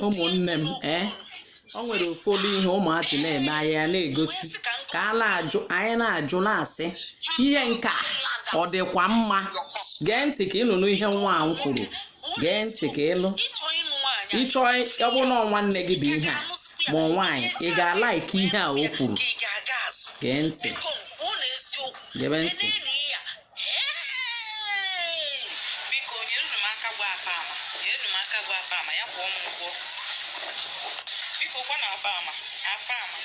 ụmụnne m ee o nwere ụfọdụ ihe ụmụazị na-eme anyị ya na-egosi ka a na-ajụ anyị na-ajụ na-asị ihe nke a ọ dịkwa mma gee ntị ka ị nụrụ ihe nwa ahụ kwuru gee ntị ka ị nụ ị chọọ ọ bụrụ na ọ nwanne gị bụ ihe a ma ọ nwaanyị ị ga-alike ihe a o kwuru gee ntị gebe ntị biko nyere m aka gwa apama nyere m aka gwa apama ya kwụọ m ụgwọ biko gwa na apama apama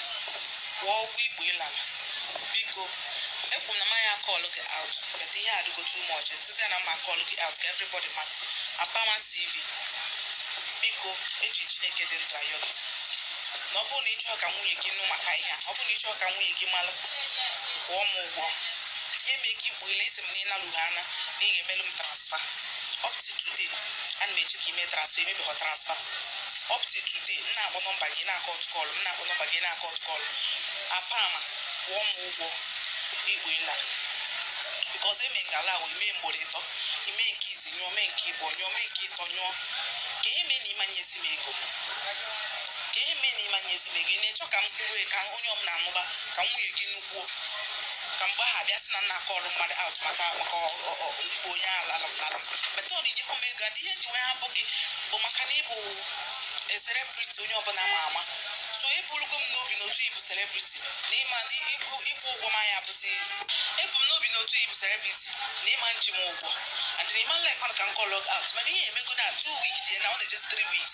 kwụọ ụgwọ ikpu ị lala biko ekwu na m aya a-call gị out but ihe adịgo too much sịzie na m ma a-call gị out ka everybody ma apama tv biko eji chineke dị ndụ ayọ gị na ọ bụrụ na ị chọọ ka nwunye gị nụ maka ihe a ọ bụrụ na ị chọọ ka nwunye gị malụ kwụọ m ụgwọ nye m ego ikpu ị la ị sị m na ịnalụghị ana na ị ga-emelụ m transfer up to today ana m eche ka i mee transfer i mebeghọ transfer up to today m na-akpọ number gị na-a-cut call m na-akpọ number gị na-a-cut call apama kwụọ m ụgwọ ikpu ị la because eme ngala wee mee mgboro ịtọ i mee nke izizi nyụọ mee nke ịbụọ nyụọ mee nke ịtọ nyụọ kee ihe mee na ị ma nyezi m ego kee ihe mee na ị ma nyezi m ego ị na-achọ ka m kwuwe ka onye ọbụla anụba ka nwunye gị nukwuo ka mgbe ahụ abịa sị na m na-a-call mmadụ out maka maka ikpu onye ala alala metod inyekwa m ego adị ihe m ji wee hapụ gị bụ maka na ị bụ celebrity onye ọbụla ma ama so eburugo m n'obi n'otu ị bụ celebrity na ị ma ịkwụ ụgwọ m anya bụzi ebu m n'obi n'otu ị bụ celebrity na ị ma eji m ụgwọ and na ị ma like ka m call gị out mana ihe emego na two weeks ya na ọ na-eje three weeks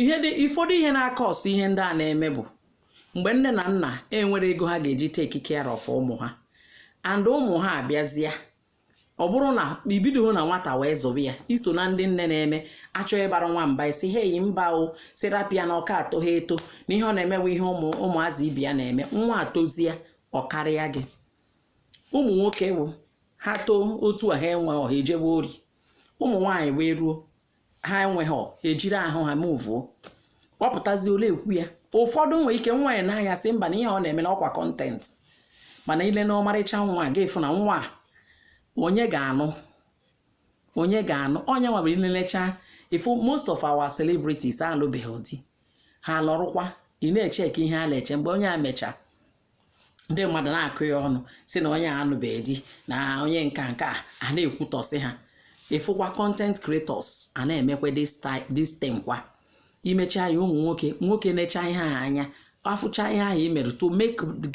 ihe dị ụfọdụ ihe na-a-cause ihe ndị a na-eme bụ mgbe nne na nna enwerọ ego ha ga-eji take care of ụmụ ha and ụmụ ha abịazịa ọ bụrụ na i bidoho na nwata wee zụba ya i so na ndị nne na-eme a chọọ ịbara nwa mba ị sị hey mba o sị rapụ ya na ọka atọ ha eto na ihe ọ na-eme bụ ihe ụmụ ụmụazị ibe ya na-eme nwa etozie ọ karịa gị ụmụ nwoke bụ ha too otu a ha enwerọ ha ejebe ori ụmụ nwaanyị wee ruo ha enweghị e jiri ahụ ha move ọ pụtazie ole ekwu ya ụfọdụ nwere ike nwa ya n'ahịa sị mba na ihe ọ na-eme na ọkwa content mana ị lee na ọmarịcha nwa ga-efu na nwa onye ga-anụ onye ga-anụ onye nwa bụ i lelecha ị fụ most of our celebrities alụbeghị di ha nọrụkwa ị na-eche ka ihe a na-eche mgbe onye a mecha ndị mmadụ na-akọ ya ọnụ sị na onye anụbeghị di na onye nke a a na-ekwutọsị ha ịfụkwa content creators a na-emekwa this thing kwa imecha ya ụmụ nwoke na-echa ihe ha anya afụcha ihe ahụ i mere to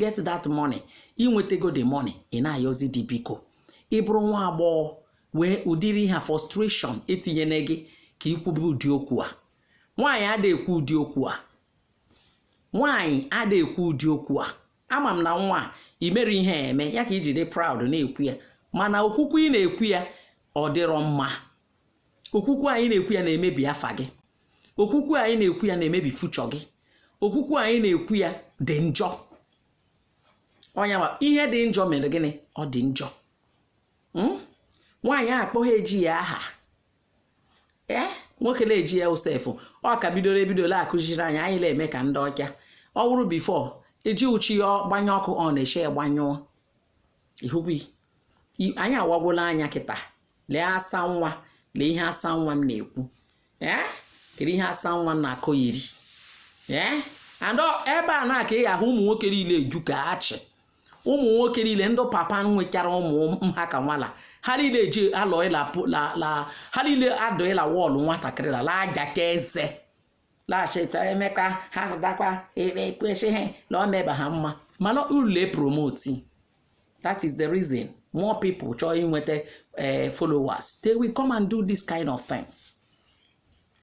get that money inwetago the money ị na-ayọzi di biko ị bụrụ nwa agbọghọ wee ụdịrị ihe frustration etinyere gị ka ikwube ụdị okwu a nwaanyị ada ekwu ụdị okwu a nwaanyị ada ekwu ụdị okwu a ama m na nwa a imere ihe a eme ya ka iji dị proud na-ekwu ya mana okwukwu ị na-ekwu ya ọ dịrọ mma okwukwu anyị na-ekwu ya na-emebi afa gị okwukwu anyị na-ekwu ya na-emebi future gị okwukwu anyị na-ekwu ya dị njọ ọyị m ihe dị njọ mere gịnị ọ dị njọ hmm? nwaanyị akpọghị eji ya aha ee nwoke na-eji ya sef ọ ka bidoro ebido la-akụziri anyị anyị na-eme ka ndị ọcha ọ wụrụ before iji uchi ya gbanye ọkụ ọ na-eche ya gbanyụọ ị hụ be anyị awagwola anya kịta lee asa nwa lee ihe asa nwa m na-ekwu ee kedu ihe asa nwa m na-akọyiri ee and ebe a ka ị ga-ahụ ụmụ nwoke niile eju ka achị ụmụ nwoke niile ndị papa nwechara ụmụ ha ka nwa la ha niile eji alọ ịla ha niile adọ ịla wall nwatakịrị la la-ajacha eze laghachikwa emeka ha fụtakwa ere ekwesịghị na ọ meba ha mma mana ule promote that is the reason more people chọọ inweta eh, followers they will come and do this kind of thing.